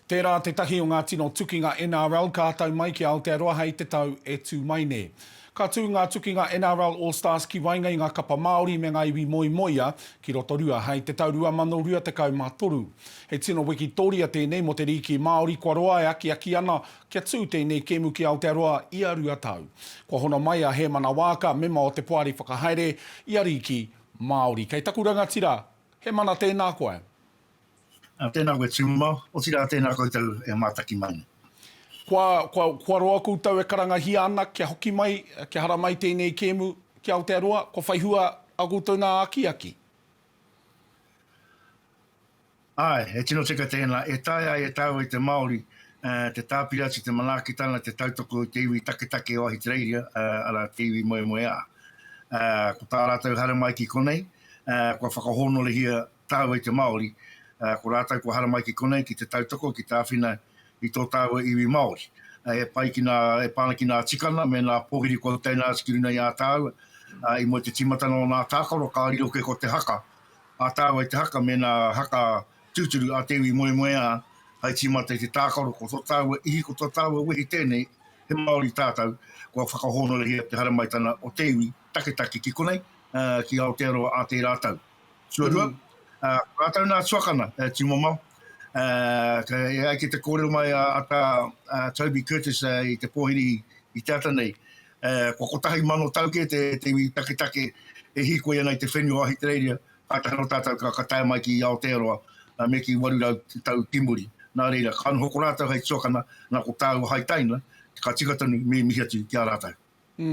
Tērā tētahi o ngā tino tukinga NRL ka tau mai ki Aotearoa hei te tau e tū mai nei. Ka tū ngā tukinga NRL All Stars ki waenga i ngā kapa Māori me ngā iwi moemoeā ki Rotorua hei te tau 2023. He tino wikitoria tēnei mō te rīki Māori kua roa e akiaki ana kia tū tēnei kēmu ki Aotearoa ia rua tau. Kua hono mai a Hēmana Waaka, mema o te Poari Whakahaere i a Rīki Māori. Kei taku rangatira, Hemana tēnā koe. Tēnā koe tūmau, otirā tēnā koutou e mātaki mai nei. Kua, kua, kua roa koutou e karangahia ana kia hoki mai, kia haramai tēnei kēmu ki Aotearoa, kua whai hua ā koutou nā akiaki? Āe, he tino tika tēnā. E taea e tāua i te Māori te tāpiri atu i te manaakitanga, te tautoko i te iwi taketake o Ahitereiria, arā, te iwi moemoeā. Ko tā rātou haramai ki konei, kua whakahōnore hia tāua i te Māori, ā, ko rātou kua haramai ki konei ki te tautoko, ki te āwhina i tō tāua iwi Māori. E pai ki nā, e pā ana ki nā tikana me nā pōhiri kua teina atu ki runga i a tāua, ā, i mua i te tīmatanga o nā tākaro ka riro kē ko te haka, a tāua i te haka me nā haka tūturu a te iwi moemoeā hai tīmata i te tākaro, ko tō tāua ihi, ko tō tāua wehi tēnei, he Māori tātou, kua whakahōnorehia te haramaitanga o te iwi taketake ki konei, ā, ki Aotearoa ā tērā tau. Tuarua, uh, rātou nā tuakana, uh, tīmamao. Uh, kei ai ki te kōrero mai a, a, tā, a Toby Curtis uh, i te pōhiri i te ata nei. Uh, kua kotahi mano tau ke te, te iwi taketake e hīkoi ana i te whenua o Ahitereiria, kātahi no tātou ka, ka tae mai ki Aotearoa uh, me ki 800 tau timuri. Nā reira, ka noho ko rātou hai tuakana, nā ko tāua hai taina, ka tika tonu me mihi atu ki a rātou. Mm.